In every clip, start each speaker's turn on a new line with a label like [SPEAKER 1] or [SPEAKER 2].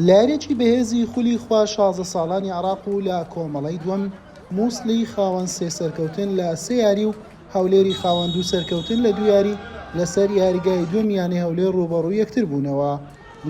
[SPEAKER 1] لەیاریەکی بەهێزی خولی خوار شازدە ساڵانی عێراق و لە کۆمەڵەی دووەم موسڵی خاوەن سێ سەرکەوتن لە سێ یاری و هەولێری خاوەن دوو سەرکەوتن لە دوو یاری لەسەر یاریگای دووەم یانەی هەولێر ڕووبەڕووی یەکتر بوونەوە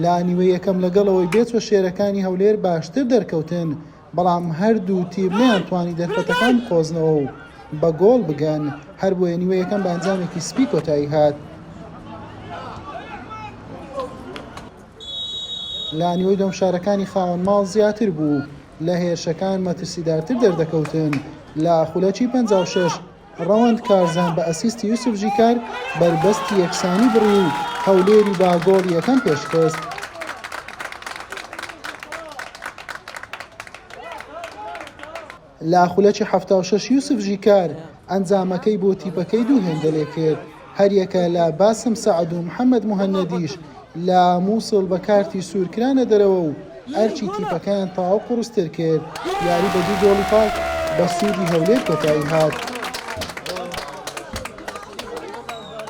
[SPEAKER 1] لە نیوەی یەکەم لەگەڵ ئەوەی بێچوە شێرەکانی هەولێر باشتر دەرکەوتن بەڵام هەردوو تیپ نەیانتوانی دەرفەتەکان بقۆزنەوە و بە گۆڵ بگەن، هەربۆیە نیوە یەکەم بە ئەنجامێکی سپی کۆتایی هات. لە نیوەی دووەم شارەکانی خاوەن ماڵ زیاتر بوو، لە هێرشەکان مەترسیدارتر دەردەکەوتن لە خولەکی پەنجا و شەش، ڕەوەند کارزان بە ئەسیستی یوسف ژیکار بەربەستی یەکسانی بڕی و هەولێری بە گۆڵی یەکەم پێشخست. لە خولەکی حەفتا و شەش یوسف ژیکار ئەنجامەکەی بۆ تیپەکەی دوو هێندە لێکرد. هەریەکە لە باسم سەعد و محەمەد موهەنەدیش لە موسڵ بە کارتی سوور کرانە دەرەوە و ئەرکی تیپەکەیان تەواو قوڕستر کرد، یاری بە دوو گۆڵی پاک بە سوودی هەولێر کۆتایی هات.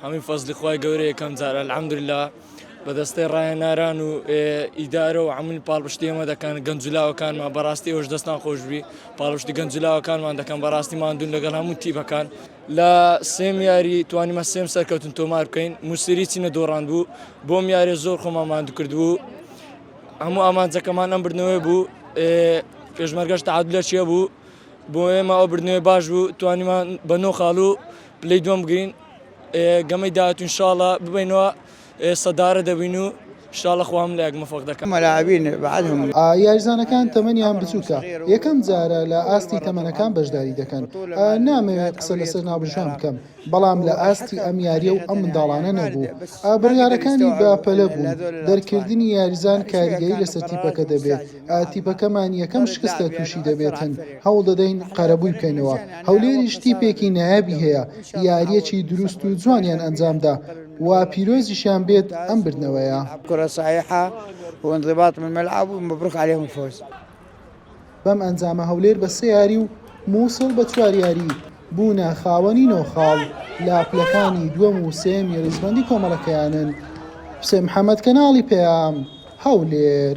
[SPEAKER 2] هەمووی فەزلی خوای گەورەیە یەکەم جار الحمدللە بە دەستەی ڕاهێناران و ئیدارە و عمل پاڵپشتی ئێمە دەکەن گەنجلاوەکانمان بەڕاستی ئەوش دەستان خۆشببی پاڵشتی گەنجلاوەکانمان دەکەم بەڕاستی مادون لەگەڵ هەموو تیبەکان لە سێم یاری توانیمە سێم سەرکەوتن تۆمار بکەین موسری چینە دۆڕاند بوو بۆم یارێ زۆر خۆمان مادوکردبوو هەموو ئامانجەکەمان ئەم بردنەوەی بوو پێشمەرگەش تعادلە چیە بوو بۆ ئێمە ئەو بردنەوەی باش بوو توانیمان بە نۆ خاڵ و پلی دوم گرین گەمەی داهاتون شاڵە ببینەوە ئێستا دارە دەبین و شاڵە خوا هەموو لایەک مۆفەق دەکات. یاریزانەکان
[SPEAKER 1] تەمەنیان بچووکە، یەکەم جارە لە ئاستی تەمەنەکان بەشداری دەکەن، نامەوێت قسە لەسەر ناوبژیوان بکەم، بەڵام لە ئاستی ئەم یارییە و ئەم منداڵانە نەبوو، بڕیارەکانی بە پەلە بوون، دەرکردنی یاریزان کاریگەری لەسەر تیپەکە دەبێت، تیپەکەمان یەکەم شکستە تووشی دەبێتن، هەوڵ دەدەین قەرەبووی بکەینەوە، هەولێریش تیپێکی نایابی هەیە، یارییەکی دروست و جوانیان ئەنجامدا. و پیرۆزیشیان بێت ئەم بردنەوەیە. کورە سایحە
[SPEAKER 3] و انضباط من ملعب و مبروک علیهم الفوز.
[SPEAKER 1] بەم ئەنجامە هەولێر بە سێ یاری و موسڵ بە چوار یاری بوونە خاوەنی نۆ خاڵ لە پلەکانی دووەم و سێیەمی ریزبەندی کۆمەڵەکەیانن. حوسێن محەمەد کەناڵی پەیام، هەولێر.